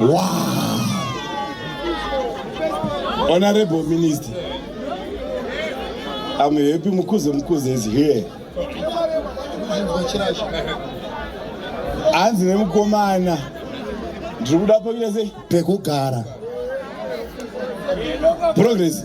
Wow. Honorable Minister, I'm happy Mukuze Mukuze is here. Hanzi nemukomana ndiri kuda pekugara progress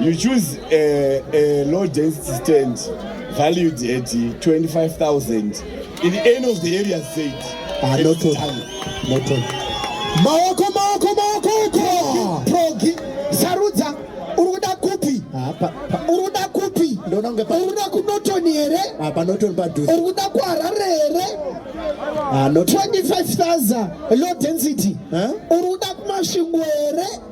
You choose a, a low density stand valued at 25,000 in the end of the area said. Ah, not all. Not all. Maoko, maoko, maoko, progi, progi. Sarudza, uruda kupi? Ah, pa, pa. Uruda kupi? Ndona unge pa. Uruda ku Norton here? Ah, pa Norton pa duze. Uruda ku Harare here? Ah, not. 25,000 low density. Huh? Uruda ku Masvingo here?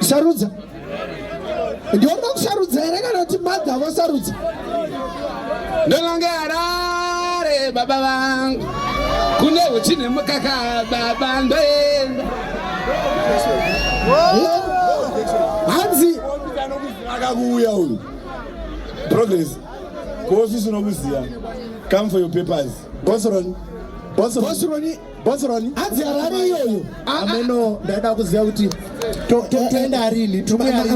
sarudza ndioda kusarudza here kana kuti madha vasarudza ndononge harare baba vangu kune uchi nemukaka baba ndoenda hanzi akakuuya uyu progress kuofisi unokuziva come for your papers bosron bosron Bosron hanzi Harare iyoyo ameno ndaida kuziva kuti toenda rini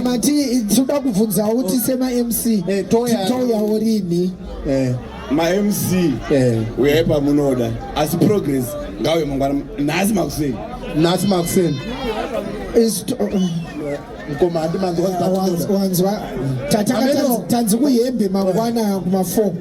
mati tinoda kubvunzawo kuti sema mc eh, touyawo rini eh, mamc eh. uyai pamunoda asi progress ngauye mangwana nhasi makuseni nhasi makuseni mkoma handi manzwa wanzwa tanzi kuyembe mangwana kuma 4